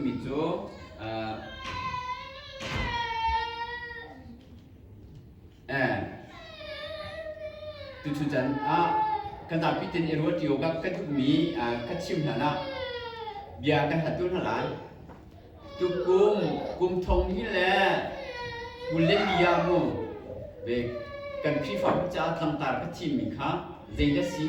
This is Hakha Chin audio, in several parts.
mi cu tuchun can ah kan zapi ten i rual ṭio ka kan duhmi ka chim hlan ah bia kan hal tu hna lai tukum kum thong ni le kule lia mu ve kan khrihfa caah thangtar ka thim mi kha zei na si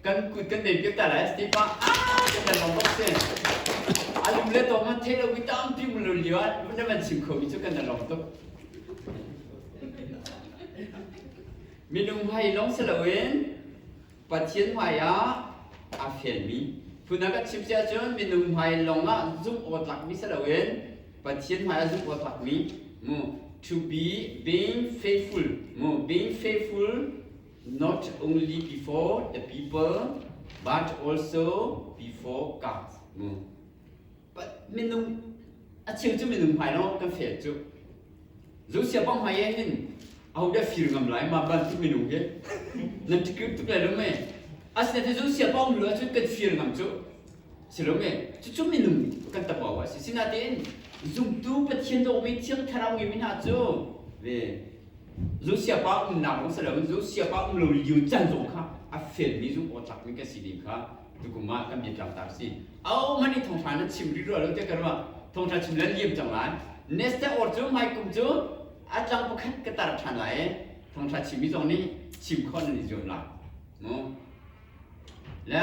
Kan kut kan nem kita lai Stipa ah kan dan bom bok se. Alum le to ma the lo ki tam ti mu lo liwa na man sim kho mi chu kan dan lom tuk. Minung hai long se lo in Pathian hmai ah aa felmi. Phun a kan chim si ahcun minung hmai lawng ah zumh awtlakmi si loin Pathian hmai ah zumh awtlakmi mu to be being faithful mu being faithful not only before the people but also before God mu minung a cheu cu minung hmai lo kan fail cu zu sia pang hmai e hin aho dah fir ngam lai ma bantuk minung hi nan ti kip tuk lai lo me asina ti zu sia pang lu cu kan fir ngam cu si lo me cucu minung kan tapa wa si sinain zumtu pathian dawmi thiang thlarau ngimi hna cu ve zu sia pa um nak rong sa lo zu sia pa um lo liu can zong kha a fel mi zung aw tlak mi kan si ding kha tukum ah kan biak tlak ta si au man i thongthla na chim ri rual te karwa thongthla chim lan liam cang lai neste or cu mai kum cu atlang bu khat ka tar than lai thongthla chim mi zong nih chim khon ni zuam la mu la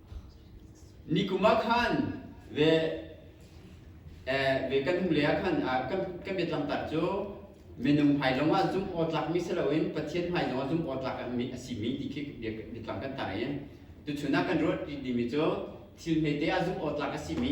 Nikum ah khan ve kan hnu lei ah khan kan biatlangtar cu minung hmailawng ah zumh awtlakmi si loin Pathian hmailawng ah zumh awtlak a simi ti khi biatlang kan tar i tuchun ah kan ruah dimi cu thil hmete ah zumh awtlak a simi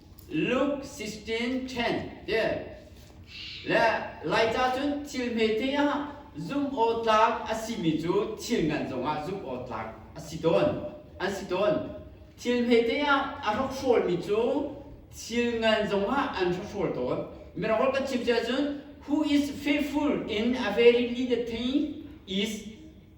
Luke 16:10 ti le Laica cun thil hmete ah zumhawtlak a simi cu thil ngan zongah zumhawtlak a si tawn an si tawn thil hmete ah a hrokhrawlmi cu thil ngan zongah an hrokhrawl tawn mirang holh kan chim cia cun who is faithful in a very needed thing is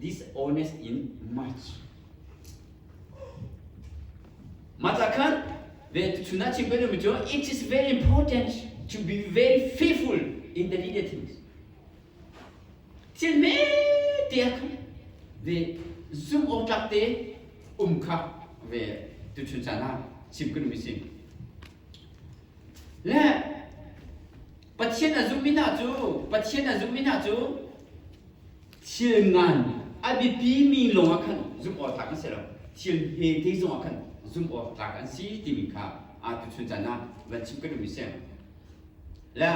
Dishonest in much. Mah ca khan ve tuchun ah chim kan um cu it is very important to be very faithful in the leader things. Thil me te khan ve zum awk tlak te um kha ve tuchun chan ha chim kan um sim. Le Pathian a zum in ah cu Pathian a zum in ah cu thil ngan a biapi mi lawng ah khan zumh awlak an si lo thil he te zong ah khan zumh awlak an si timi kha aa tu chun caan ah van chim kan um i sem le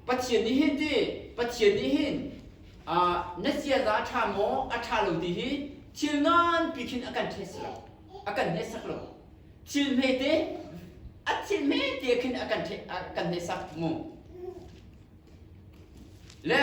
Pathian nih hin ti Pathian nih hin na ziaza a ṭha maw a ṭha lo ti hi thil nganpi khin a kan ṭhial si lo a kan hneksak lo thil hmete a thil hmete khin a kan kan hneksak mu le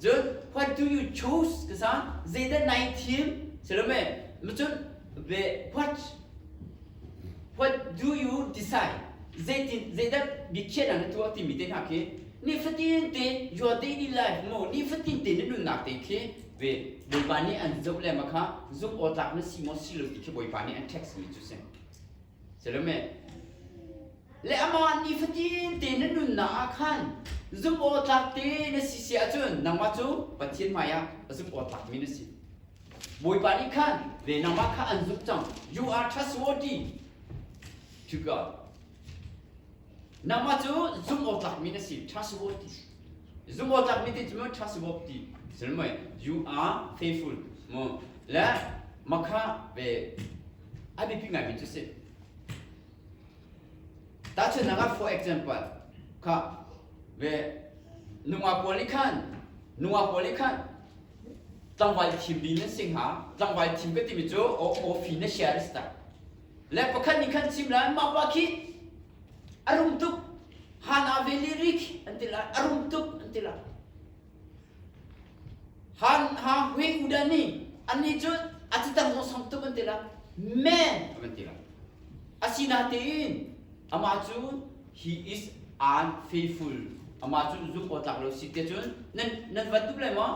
Cun what do you choose ka sa zeidah nai thim silome macun ve what what do you decide zeitin zeidah biakhiah na tu timi te hna khi ni fatin te your daily life mo ni fatin te na nunnak te khi ve bawipa nih an zoh le ma kha zumh awtlak na si maw si lo ti khi bawipa nih an text mi cu si Salome le amah nih fatin te na nunnak ah khan zumh aw tlak te na si si ahcun nangmah cu Pathian hmaiah zumh aw tlakmi na si. Bawipa nih khan ve nangmah kha an zumh cang. You are trustworthy to God. Nangmah cu zumhawtlakmi na si ṭha si bawi ti. Zumhawtlakmi ti cu ṭha si bawi ti. Sil mui you are faithful mu le makha ve a biapi ngaimi cu si. Tahchunhnak ah, for example, kha ve nungak pawl nih khan nungak pawl nih khan tlangval thim ding nan si hnga. Tlangval thim ka timi cu aw aw fi na share ta. le pakhat nih khan sim lai mah pa khi a rum tuk hana veli ri khi an ti lai a rum tuk an ti lai han ha hui udani ani cu atitan no sang tuk an ti lai men an ti lai asinain ama cu he is unfaithful ama cu zung aw tlak lo si te cun nan nan van tuk lai ma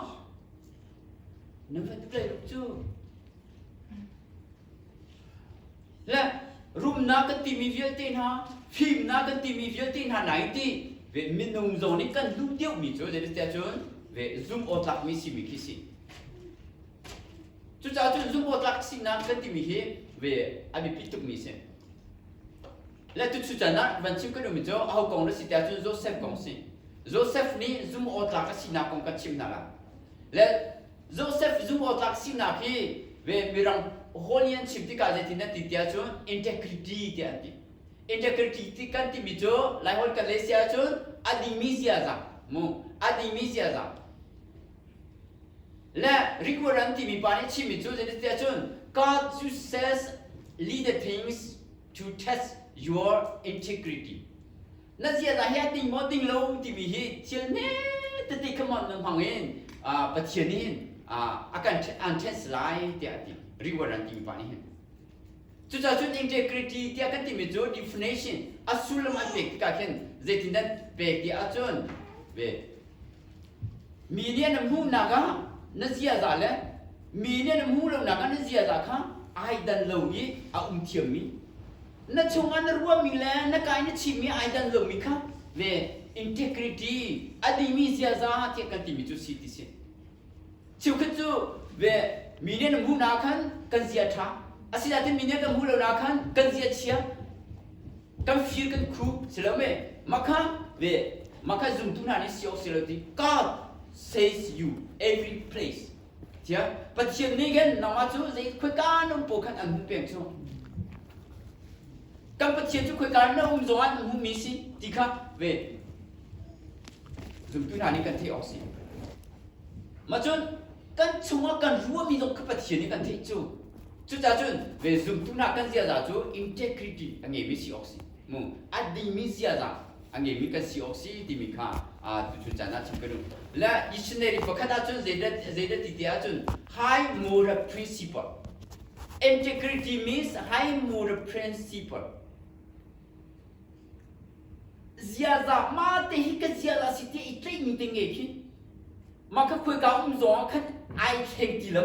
nan van tuk lai cu Le rumnak kan timi vialte hna, fimnak kan timi vialte hna na i ti, ve minung zong nih kan hnu deuhmi cu zeitiah cun ve zumh awtlakmi simi khi si. Cucaah cun zumh awtlak sinak kan timi hi ve a biapi tukmi si. Le tuk sucan ah van chim kan ummi cu aho kong na si tiah cun Joseph kong si. Joseph nih zumh awtlak a sinak kong kan chimnak ah le Joseph zumhawtlak sinak hi ve mirang holy an chim tikah zeitin an ti tiah cun integrity tiah an ti. Integrity kan timi cu Laiholh kan leh si ahcun a dimi ziaza mu a dimi ziaza le requirement timi pa nih chimmi cu zeitin tiah cun God uses leader things to test your integrity na ziaza hi a ting maw ting lo timi hi thil hmetete khamon nan hmang in pathian in a kan an ṭhensi lai tiah a ti reward an timi pa nih hin cucaah cun integrity tiah kan timi cu definition a sullam an pek tikah khin zeitin dan pek ti ahcun ve mi nih na hmuhnak ah na ziaza le mi nih na hmuh lonak ah na ziaza kha ai dan lo i a um thiammi Na chungah na ruahmi le na kai na chimmi ai danh lomi kha ve integrity a dimi ziaza tiah kan timi cu si ti si cheukhat cu ve mi nih na hmuh na khan kan zia ṭha asinain mi nih kan hmuh lo na khan kan zia chia kan fir kan khu si lo me makha ve makha zumtu hna nih si awk si lo ti God says you every place Cia Pathian nih khin nangmah cu zei khoika na um pawl khan an hmu peng cu kan Pathian cu khoika na um zongah na hmu mi si ti kha ve zumtu hna nih kan theih awk si ma cun kan chungah kan ruahmi zong kha Pathian nih kan theih cu cucahcun ve zumtu hna kan ziaza cu integrity a ngeimi si awk si a dingmi ziaza a ngeimi kan si awk si timi kha tuchun caan ah chim ka duh le dictionary pakhat ahcun zeidah ti te ahcun high moral principle integrity means high moral principle ziaza ma te hi ka ziaza si te i tleihmi te nge khin maka khoi ka um zong ah khan ai thleng ti lo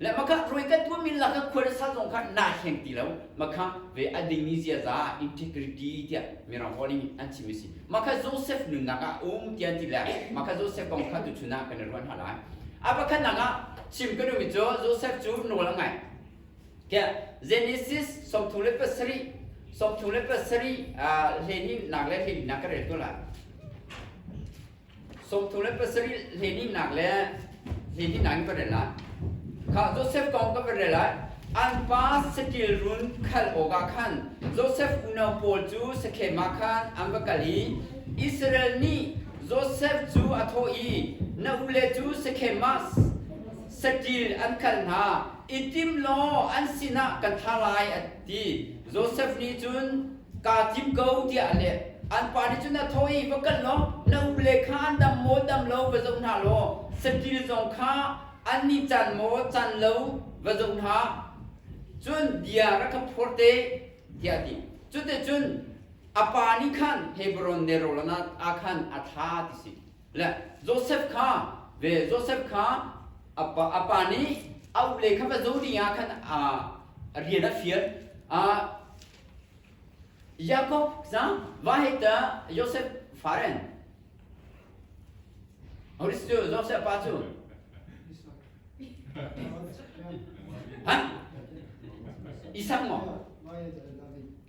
Le makah khroi kan tuah min lak khual sal zong kha na hleng ti lo makha ve a ding ni ziaza integrity tiah mirang calling an chim si makha Joseph nunnak ah um tian ti le makha Joseph kong kha tu chuna kan ruan ha lai a pakhat nang ah chim kan mi cho Joseph chu nawl an ngai ke Genesis sawmthum le pasarih sawmthum le pasarih hlenin nak le hlenin nak ka rel to la Sawmthum le pasarih hlehnihnak le hlehnihnak in ka rel lai. Kha Josef kong ka rel lai. An pa saṭil run khalh awkah khan Josef unau pawl cu Sekhem ah khan an va kal i Israel nih Josef cu a thawh i, Na ule cu Sekhem ah saṭil an khalh hna i tim law an sinah kan thah lai, ti Josef nih cun kaa thim ko tiah a leh. An pa nih cun a tho i va kal law na ule kha an dam maw dam lo va zoh hna law saṭil zong kha annih can maw can lo va zoh hna cun bia rak ka phor te tiah a ti. Cuticun a pa nih khan Hebron nelrawl ah khan a thlah ti a si. le Josef kha ve Josef kha a pa, a pa nih a ule kha va zo ni ah khan a rian a fial a Jakob za va he ta Josef faren Horis cu Josef pa cu ha Isang mo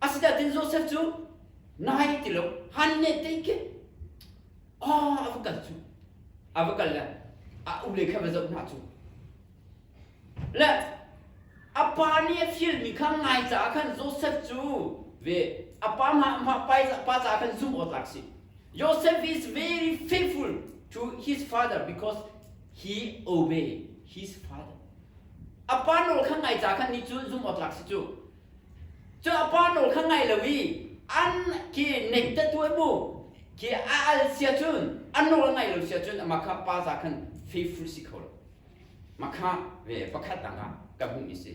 Asinain Joseph cu na hai ti lo han ne tei ke ah a va kal cu a va kal le a ule kha va zoh hna cu le a pa nih a fial mi kha ngai caah khan Joseph cu ve a pa ma ma pa pa ca khan zum awtak si Joseph is very faithful to his father because he obey his father a pa nawl kha ngai ca khan ni cu zum awtak si cu Cu a pa nawl kha ngai lo i an khi nem te tuah mu khi a al sia cun a nawl ngai lo sia cun amah kha pa za khan faithful si kho lo makha ve pakhat dang ah kan hmuhmi si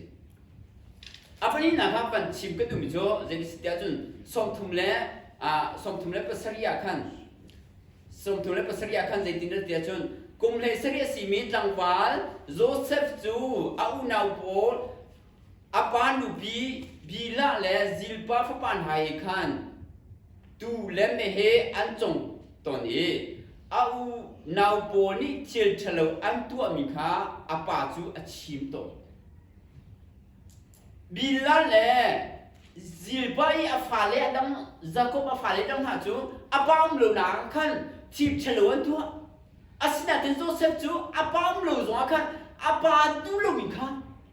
a pahnih hna kha kan chim ka duhmi cu zeititiah cun sawmthum le ah sawmthum le pasarih ah khan sawmthum le pasarih ah khan zeitindah tiah cun kum hlei sarih a simi tlangval Josef cu a unau pawl a pa nupi Bila le Zilpa fapa hna he khan tuu le meheh an cong ton i a u nau pawl nih thil ṭhalo an tuahmi kha a pa cu a chim tawn. Bila le Zilpa i a fale a dang Jakob a fale dang hna cu a pa um lo nak khan thil ṭhalo an tuah. Asinain Josef cu a pa um lo zongah khan a pa nu loin kha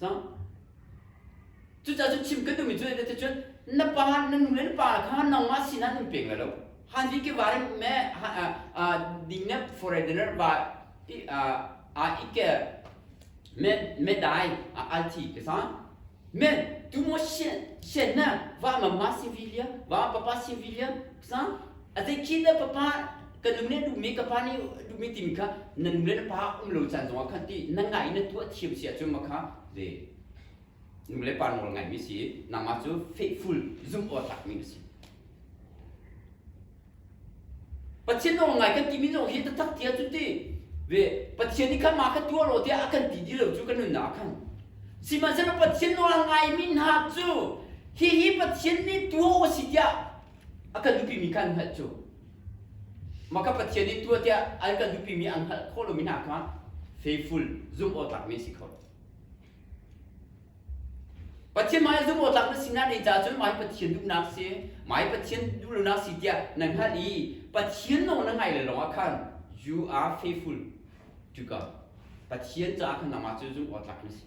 cang cucaah cun chim kan duhmi cu ne ti cun na pa na nu le na pa kha nangmah sinah nan peng lai lo han di ke varim me ding ne foreigner ba a ike me me dai althi ke sa men tu mo sien sien na va mama civilian va papa civilian sa atai chin da papa ka nu ne dumi ka pa ni dumi timi kha na nu le na pa um lo caan zongah khan ti na ngai na tuah thiam si ahcun ma kha le nu le pa nawl ngai mi si nangmah cu faithful zum aw tak mi si pathian nawl ngai kan timi zong hi tatak tia cu ti ve pathian ni kha ma ka tuah lo tiah a kan ti di lo cu kan nunna khan sihmanhsehlaw pathian nawl ngai mi hna cu hi hi pathian ni tuah u si tiah a kan duhpimi kan hngalh cu maka pathian in tua tiah an kan duhpimi an hngalh khawh lomi hna kha faithful zumhawtlakmi si kho pathian mah zumhawtlak na sinak nei ca cun mai pathian duhnak si mai pathian duhlonak si tiah na hngalh i pathian nong na ngai le lawngah khan you are faithful to God pathian caah khan nangmah cu zumhawtlak na si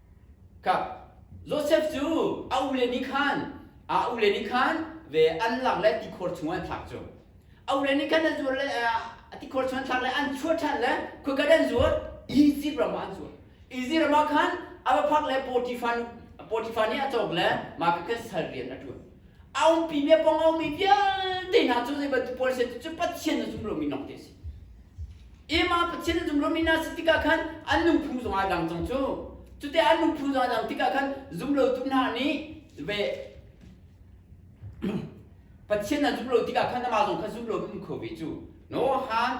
Ka Josef cu a ule nih khan a ule nih khan ve an lak le tikhor chungah an thlak cu a ule nih khan an zuat le a tikhor chungah an thlak le an chuah ṭhan le khuakat an zuat Izipt ram ah an zuat Izipt ram ah khan a va phak le Potifar Potifar nih a cawk le mah kha khan sal rian a ṭuan a umpi mi pong a ummi vialte hna cu zei bantuk pawl si cu Pathian a zum lomi lawng te a si ima Pathian a zum lomi na si tikah khan an nuphu zong a dang cang cu cute an nuphu zong a dang tikah khan zum lo tu hna nih ve Pathian an zum lo tikah khan amah zong kha zum lo in um kho ve cu no han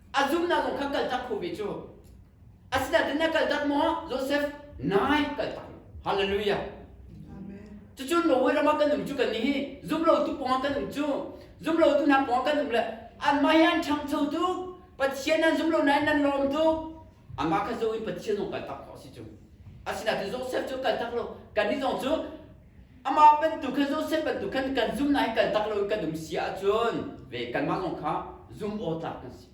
a zumnak kong kha kaltak khuvi cu asinain na kaltak maw Joseph nai kaltak hallelujah cucu Norway rama kan um cu kan ni hi zumlo tu pawng kan um cu zumlo tu na pawng kan um le anmah hi an ṭhangcho tuk Pathian an zumlo nain nan lawm tuk anmah kha zo in Pathian zong kaltak khawh si cu asinain Joseph cu kaltak lo kan ni zong cu Amah bantuk khin Josef bantuk khan kan zum nain kaltak loin kan um si ahcun ve kanmah zong kha zum awtlak kan si.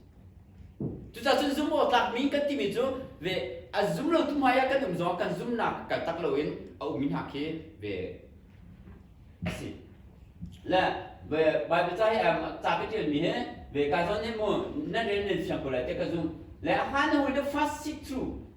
Cucacun zum awtlakmi kan timi cu ve a zum lo tu hmai ah kan um zong kan zumnak kaltak loin a ummi hna khi ve a si. Le Baibal ca hi ca ka ṭialmi hi ve ka zawn hi mu nan rel nan siang ko lai te ka zum. Le a hlan hawin the fast seek through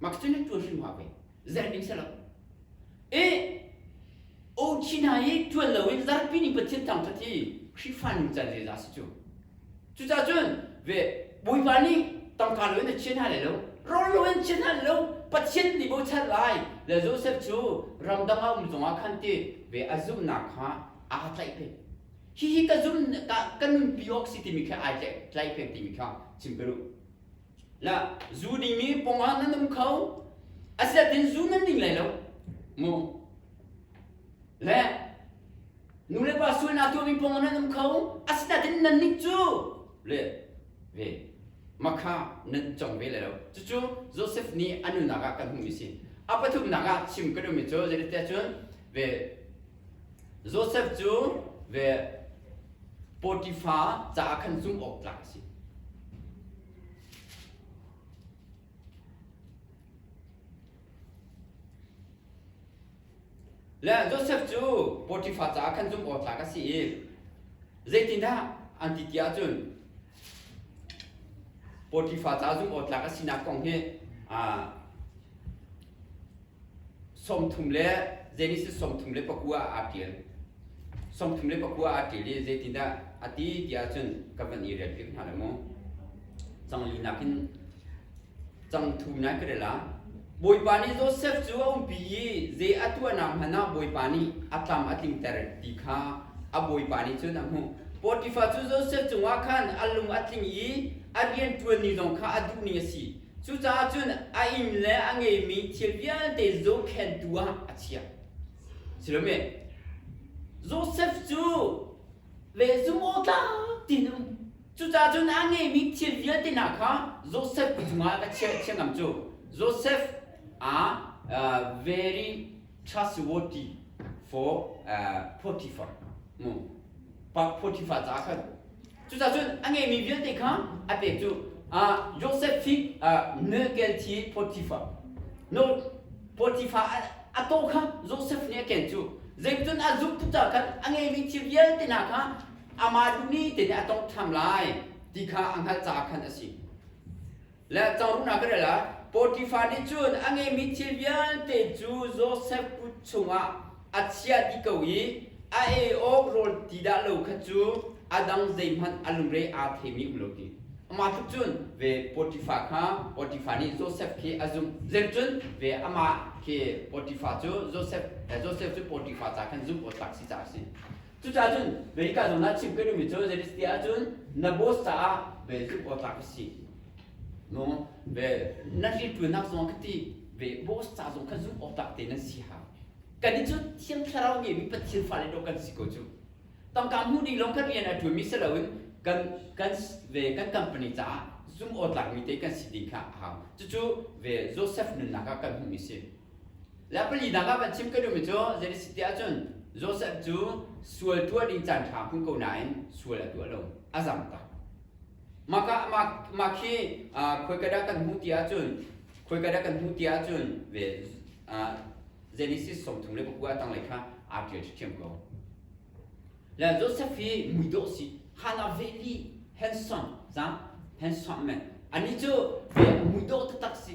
Makcunic tuan hrim hua pei zerh ding si lo. E o China i tuan lo in zarpi ning Pathian thang ṭhat hi Khrihfa nu chan ze za si cu. Cucahcun ve Bawipa nih tangka lo in a chian hna lai lo, rawl lo in chian hna lai lo, Pathian nih bochan lai le Josef cu ramdang ah um zongah khan ti ve a zumhnak kha aa tlaih peng. Hihi ka zumh ka, ka nunpi awk si timi kha ai tlaih, tlaih peng timi kha chim ka duh. La zu ding mi pong ah nan um kho asiat tin zu nan ding lai lo mu le nu le pa sual na tuami pong ah nan um kho asinatin nan nik cu le ve makha nan chong ve lai lo cucu Joseph nih anu nak ah kan hmu mi si a pathum nak ah chim ka dum mi cu zai te cun ve Josef cu ve Potifar caah khan zumhawk tlak a si. Le Josef cu Potifar caah khan zumhawk tlak a si i zeitindah an ti ti ahcun Potifar caah zumhawk tlak a sinak kong hi aa sawmthum le Genesis sawmthum le pakua aa ṭial. Sawmthum le pakua aa ṭial i zeitindah a ti ti ahcun ka van i rel hrim hna le mu. Cang li nakin cang thu na ka rela. Bawipa nih Josef cu a umpi i zei a tuahnak hmanh ah Bawipa nih a tlam a tlingter ti kha a Bawipa nih cun a hmuh. Potifar cu Josef cungah khan a lung a tling i a rianṭuan ni zong kha a duh ni a si. Cucaah cun a inn le a ngeimi thil vialte zohkhentu ah a chiah. Silome Josef cu ve zumawtlak ti in um. Cucaah cun a ngeimi thil vialte hna kha Josef cungah ka chiah thiam ngam cu. Josef a uh, very chasuoti for uh, Potiphar mu pa Potiphar ca khan cucacun a ngeimi vialte kha a pek cu uh, Joseph hi uh, Nekel thi Potiphar no Potiphar a, a to kha Joseph nih a ken cu zeicun a zumh tuca khan a ngeimi thil vialte hna kha amah dumi te nih a tong ṭham lai ti kha a hngalh caah khan a si Le cangruh hna ka rel ah Potifar nih cun a ngeimi thil vialte cu Josef kut chungah a chiah dih ko i a e awk rawl ti dah lo kha cu a dang zeihmanh a lungre aa themi um lo ti. Amah tluk cun ve Potifar kha Potifar nih Josef khi a zumh. Zeicun ve amah khi Potifar cu Josef Josef cu Potifar ca khan zumh awk tlak si caah a si. Cucaah cun America zong na chim ka duhmi cu zeitiah ahcun na boss caah vel zumh awtlak ka si. No, vel na ṭiṭuanak zong ka ti ve boss ca zong kha zumh awtlak te nan si hau. Kan nih cu Thiang Thlarau nih mi Pathian fale dawh kan si ko cu. Tangka hmuh ding lawng kan rian a ṭuanmi si loin kan kan ve kan company caah zumh awtlakmi te kan si ding kha a hau. Cucu ve Josef nunnak ah kan hmuhmi si. Le pali dang ah van chim ka duhmi cu zeitik tiah cun Joseph cu sual tuah ding caan ṭha hmu ko nain sual a tuah lo a zam tak. Mah mah khi khoikadah kan hmuh ti ahcun khoikadah kan hmuh ti ahcun ve Genesis som thum le pakua tanglei kha aa ṭial ṭhiam ko. Le Joseph hi mui dawh si hal a veli handsome zang handsome men. Anih cu ve mui dawh taktak si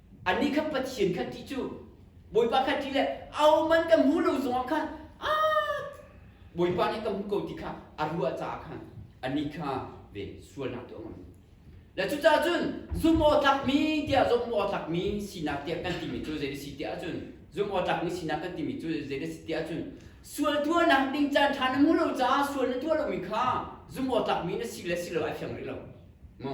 Anih kha Pathian kha ti cu Bawipa kha ti le ahohmanh ka hmu lo zongah khan a Bawipa nih ka hmu ko ti kha a ruah caah khan anih kha ve sualnak tu a ngam. Le cucaah cun zumhawtlakmi tiah zumhawtlakmi sinak tiah kan timi cu zei a si tiah cun zumhawtlakmi sinak kan timi cu zei a si tiah cun sual tuahnak ding caan ṭha na hmu lo caah sual na tuah lomi kha zumhawtlakmi na si le si lo ai fiang rih lo mu.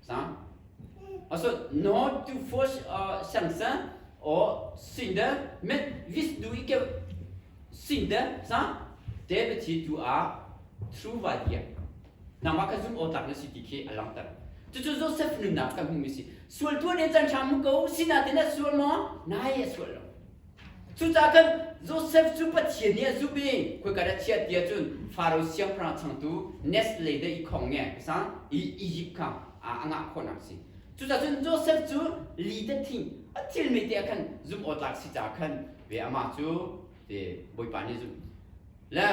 sang aso no tu force sangsa o sinda met vis du ike sinda sang te be thi tu a through vai dia nangma ka zum o tak na city khi alang tar chu chu joseph nun nak ka hmu mi si sual tu ne chan tham ko sina te na sual mo nai sual lo Cucaah khan Josef cu Pathian nih a zumh i khoika dah chiah ti ahcun Faro siangpahrang changtu Nestle deh i khong nge ka sang i Egypt kha a ngah khawhnak a si. Cucaah cun Josef cu li te thing a thil mi te ah khan zumh awtlak si caah khan ve amah cu te Bawipa nih a zumh. Le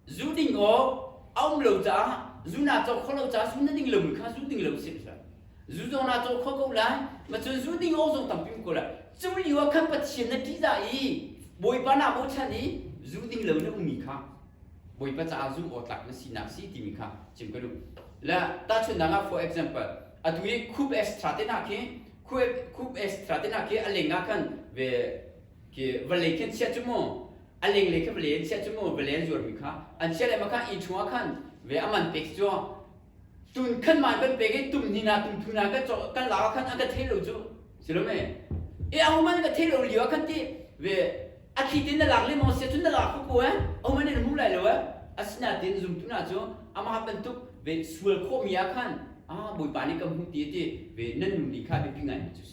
Zu ding awk a um lo caah zu naa cawk kho lo caah zu na ding lomi kha zu ding lo si hlah. Zu zong naa cawk kho ko lai. Macun zu ding awk zong tampi ko lai. Cu lio ah khan Pathian na ṭihdah i Bawipa naa bochan i zu ding lo na ummi kha Bawipa caah zu aw tlak na sinak si timi kha chim ka duh. La tahchunhnak ah for example atu hi Khup Estratenak hi Khup Estratenak hi a leng ah khan ve ke vale khin sia chu mu aleng le khe vale an sia chu mu vale an zuar mi kha an sia le ma kha in chungah khan ve aman pek chu tun khan man van pek i tum ni na tum thu na kan kan la khan an ka thei lo chu silo me e a human ka thei lo liwa khan ti ve a thli tin na lak le mo sia chu na lak ku eh a human in hmu lai lo eh asina tin zum tu na chu ama pantuk ve sual kho mi a khan a boipa ni kam hu ti ti ve nan nu ni kha bi pingai mi chu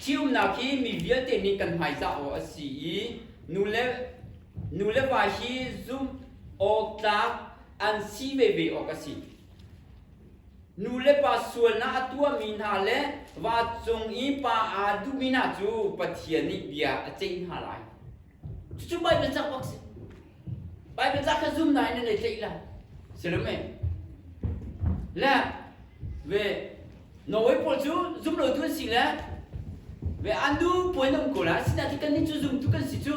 Ceunak hi mi vialte min kan hmaizah awk a si i nule nuleva hi zumh awk tlak an si veve awk a si. Nulepa sualnak a tuahmi hna le va cung i pa aa duhmi hna cu Pathian nih bia a ceih hna lai. Cucu Baibal cak bak si. Baibal cak kha zum na in na tleih lai. Silam e. Le ve Norway pawl cu zum lo tu an si le ve andu puan um ko la sina ti kan ni cu zum tu kan si cu.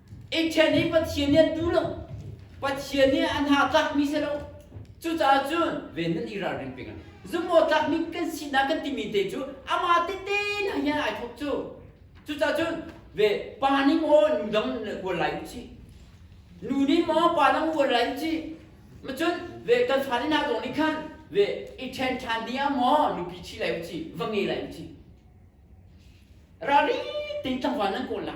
E thian hi Pathian nih an duh lo. Pathian nih a hna tlakmi si lo. Cucaah cun ven nan i ralring peng. Zumhawktlakmi kan sinak kan timi te cu amah tehte nak hin ai thawk cu. Cucaah cun ve pa nih maw nu dang vual lai u ci. Nu nih maw pa dang vual lai u ci. Macun ve kan fa nih zong nih khan ve i ṭhen ṭhan ding ah maw nupi ṭhi lai u ci, va nge lai u ci. Ralri tein tlangval nan kawl la.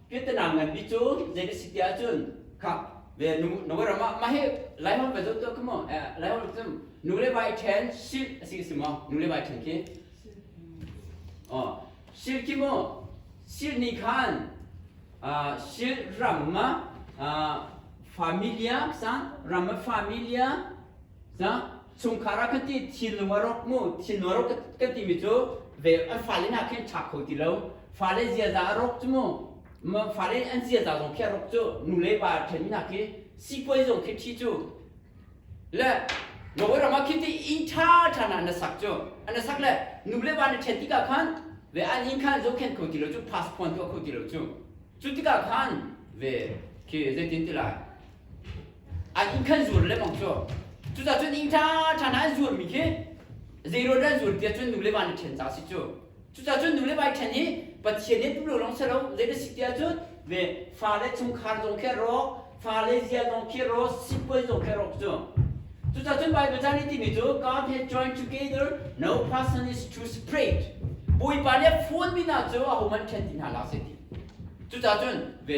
Vietnam nganpi cu zei na si ti ahcun kha ve nu na wer ma ma he lai hon va zot to come on lai hon zum nu le vai then sil asi ka si maw nu le vai then khi oh sil khi mo sil ni khan sil ram ma familia san ram ma familia sa chungkhar ah kan ti thinlung a rawk mu thinlung a rawk kan timi cu ve an fale na khin tha kho ti lo fale ziaza a rawk cu mu fale an ziaza zong khi a rawk cu nule pa then na khi sikuai zong khi thi cu le Norway ram ah khiti in tha tha na na sak cu an sak le nule pa na then tika khan ve an in khan zo khen kho ti lo cu passport kho ti lo cu cu tika khan ve khi zeitin tilai An inn khan zuar lemmang cu cucaah cun inn ṭhaṭha hna an zuarmi khi zeiruat an zuar tiah cun nu le va nih ṭhen ca a si cu cucaah cun nu le va i ṭhen hi pathian nih an um lo lawng si lo zei a si tiah cun ve fale chungkhar zong khi a rawk fale zial zong khi a rawk sipuan zong khi a rawk cu cucaah cun Baibal caan i timi cu God has joined together no person is to separate Bawipa nih a phunmi hna cu ahohmanh ṭhen ti hna lai a si ti cucaah cun ve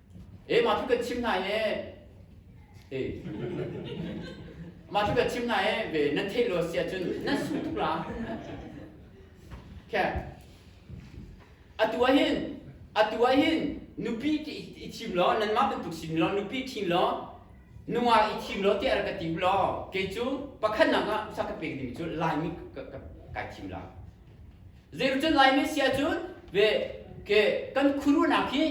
e ma thu ka chim na e e ma thu ka chim na e ve na theih lo sia cun nan su tuk la khe atu ah hin atu ah hin nupi ti i thim lo nan mah bantuk sin lo nupi thin lo nunga i thim lo te ar ka tim lo ke cu pakhat nak ah sa ka pek ding cu laimi ka kai thim la Zeicun Lai min sia cun ve ke kan khuaruhnak hi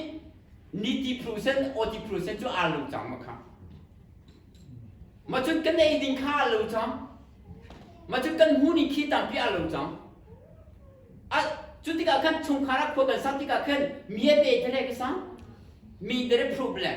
niti phuru sen awti phuru sen cu aa lo cang ma kha. Ma cun kan ei ding kha aa lo cang. Ma cun kan hmu ning khi tampi aa lo cang. A cu tikah khan chungkhar ah khua kan sak tikah khan mi a pe tere ka sang mi tere problem.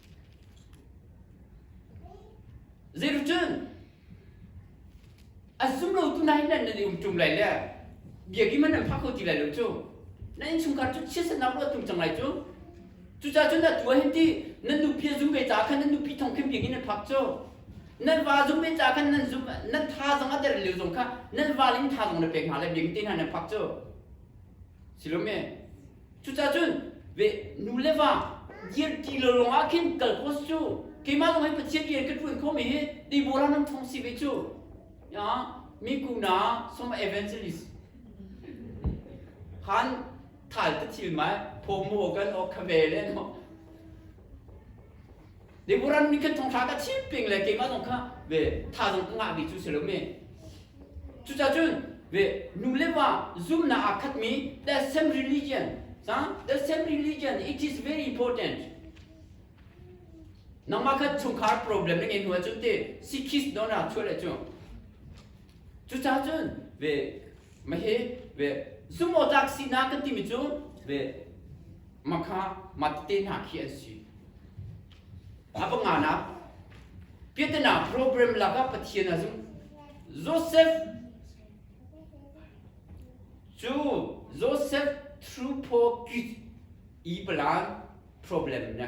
Zeicun a sumro tu nai nan nan in tum lai le biagi man an phak ti lai lo cu na innchungkhar cu chia sannak ruah tum cang lai cu cuca cun a tua hin ti nan nupi zum ve ca khan nan nupi thong khin biagi nan phak cu nan va zum ve ca khan nan zum nan tha zong a der leu zong kha nan val in tha zong na pek hna le biagi te hna nan phak cu silome Cucacun ve nule va dirti lolong ah khin kal post cu keimah zong hin Pathian rian ka ṭuan khomi hi Debora nan ṭhawng si ve cu. Ya, mi kuna som evangelist. Han thal ta thil mai phom mo kan ok khame le no. Deborah mi kan thong thla ka chim ping le keima zong kha ve tha zong ka ngah mi cu si lo me cucacun ve nu le pa zumnak aa khat mi that same religion sa that same religion it is very important nangmah kha chungkhar problem na ngei nu ahcun te sikis don ra chuah le cu cucacun ve mahe ve zumawtak si na kan timi cu ve makha mate hna khi an si a panga na piatana program laka pathian azum joseph chu joseph through po i palan problem na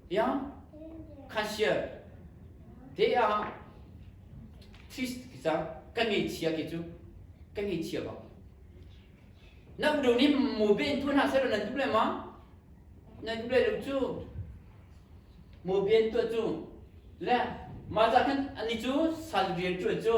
yang khansial te a trist ki cang kan ngei chia ki cu kan ngei chia ba na bu ni mu be in thun ha sero nan tu le ma nan tu le luk chu mu bien tu chu le ma za khan ani chu sal rian chu chu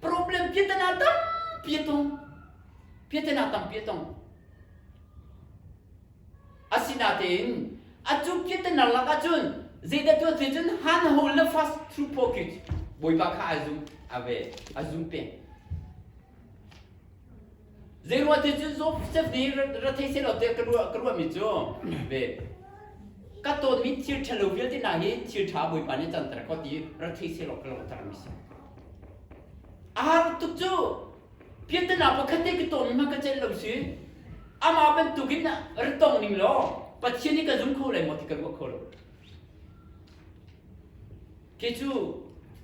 problem piatana tampi a tong piatana tampi a tong asinatein atu piatana lak ahcun zeidah tuah te cun han ho le fast thru pocket bawipa kha ai zum ave ai zum peng Zeiruahti cun Josef nih ra thei seh law tiah ka ruah ka ruahmi cu ve ka tonmi thil ṭhalo vialte hna hi thil ṭha Bawipa nih canter ko ti ra thei seh law ka langhtermi si. A har tuk cu piantana pakhat te ka tonmi hmanh ka celh lo si amah bantukin ra tong ning law Pathian nih ka zum kho lai maw ti ka ruah kho lo. Khi cu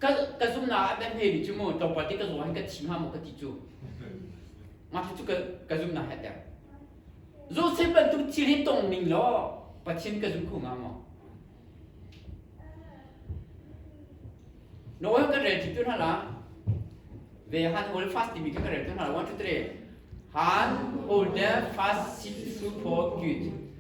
ka ka zumnak ah kan hme mi cu mu tlawmpal ti ka zaw hin ka thim ha mu ka ti cu mah cu ka ka zumnak he teng zu se bantuk thil hi tong ning law pathian ka zum khu nga maw no kan rel thi tu na la ve han hold fast timi kan rel tu na la one two three han hold the fast sit to for good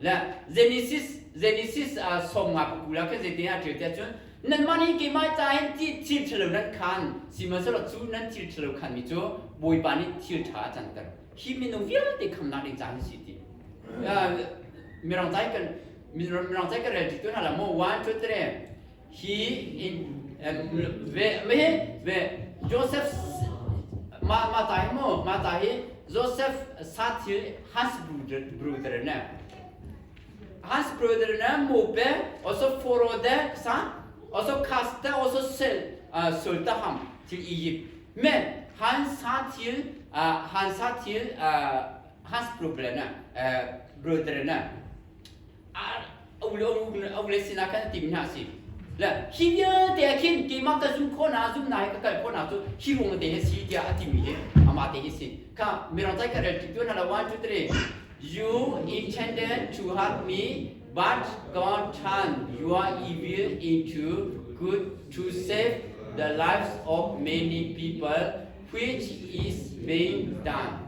La Genesis Genesis a som nga ka kula ka zeite a ṭil te cun nan mah nih keimah ca hin ti thil ṭhalo nan khan sihmanhsehlaw cu nan thil ṭhalo khan mi cu Bawipa nih thil ṭha a canter hi minung vialte khamnak ding ca an si ti mirang cai kan mirang cai kan rel ṭi tu hna la maw one two three Hi in vehve Joseph ma ma ta hi mu ma ta hi Joseph sa thil Hans brother ne Hans brother ne mu be also foro de sa also casta also sel sulta ham til Egypt me Hans sa thil Hans sa thil Hans problem ne brother ne uk le sinah khan tim hna si le hi vialte ah khin keimah ka zum khawh na zum na hi ka kal khawh na cu hi ruang te hi si tiah a timi hi amah te hi si kha mirang cai ka rel tik tu na la one two three you intended to help me but God turned your evil into good to save the lives of many people which is being done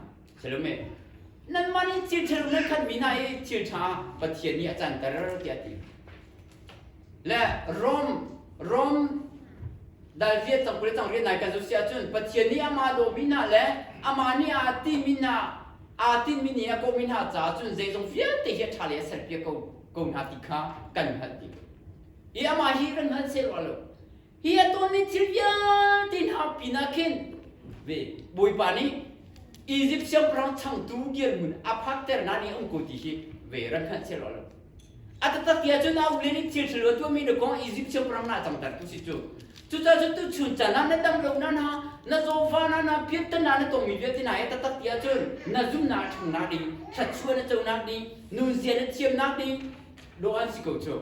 Nanmah nih thil thinlung nan khanmi hna i thil ṭha Pathian nih a canter tiah a ti. Le Rom Rom dal viet cang kule cang rian nai kan zosi ahcun Pathian nih amah dawhmi hna le amah nih aa timi hna aa tinmi nih a kawhmi hna caah cun zeizong vialte hi a ṭha lei a serpiak ko ko hna ti kha kan hngalh ding. I amah hi ran hngalh seh rua lo. hi atu ni thil vialte na ap pinah khin ve bawipa nih Egypt siangpahrang changtu kirngun a phakter na ni ong ko ti hi ve ran khan che lo lo atatak ya chun au le ni thil thil tu mi na kong Egypt siangpahrang na chang tar tu si chu cuca chu tu chun cha na na dam lo na na na zofa na na piat tan na na tong mi vialte na ya tatak ya chun na zum na thang na ding that chuan na cho na ding nun zia na thiam na ding lo an si ko chu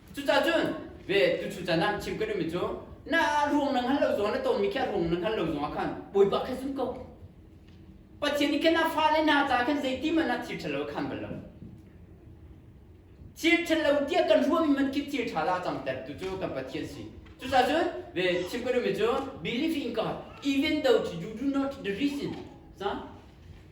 Cuca cun ve tu cu can ah chim ka duhmi cu na ruang nang hal lo zong na tonmi kha ruang nang hal lo zong ah khan bawipa kha sun ko pathian nih khan a fale na ca khan zeiti man ah thil ṭhalo khan bal lo thil ṭhalo tiah kan ruahmi man khi thil ṭha la cang ter tu cu kan pathian si cuca cun ve chim ka duhmi cu believe in God even though you do not the reason 啥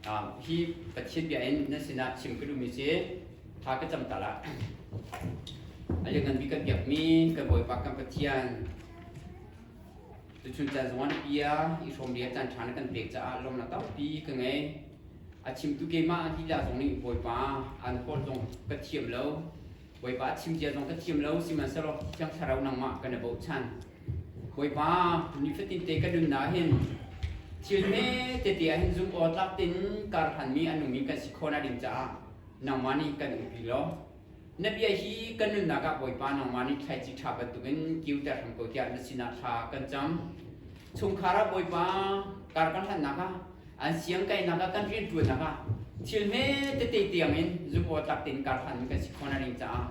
hi Pathian bia in nan sinah chim ka duhmi si tha ka cam tal ah a lianngan mi kan biakmi kan Bawipa kan Pathian tuchun caan zuan bia i hrom bia caan ṭha na kan pek caah lawm na tampi ka ngei a chimtu keimah lila zong nih Bawipa an hawl zong ka thiam lo Bawipa thimcia zong ka thiam lo, sihmanhsehlaw Thiang Thlarau nangmah ka na bochan. Bawipa, nifatin te ka nun ah hin thil me tete ah hin zumh awtlak tin karhlanmi a nungmi kan si khawna ding caah nangmah nih kan umpi law na bia hi kan nunnak ah Bawipa nangmah nih thlaici ṭha bantukin kiuter hram ko tiah na sinah thla kan cam. Chungkhar ah Bawipa kar kan hlannak ah an siangkainak ah kan rianṭuannak ah thil hme tete tiang in zumhawtlak tein karhlanmi kan si khawh na ring caah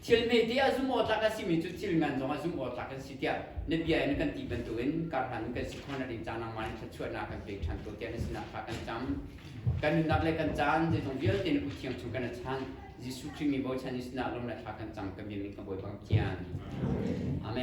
thil hmete ah zumhawtlak a simi cu thil ngan zong ah zumhawtlak an si tiah na bia in kan ti bantukin karhlanmi kan si khawh na ring caah nangmah in thluachuahnak kan pe ṭhan ko tiah na sinah thla kan cam kan nunnak le kan caan zeizong vialte na kuthiang chung kan a chan Jesuh Khrih min bochan i sinah lawm le thla kan cam ka biamin ka bawi bang Amen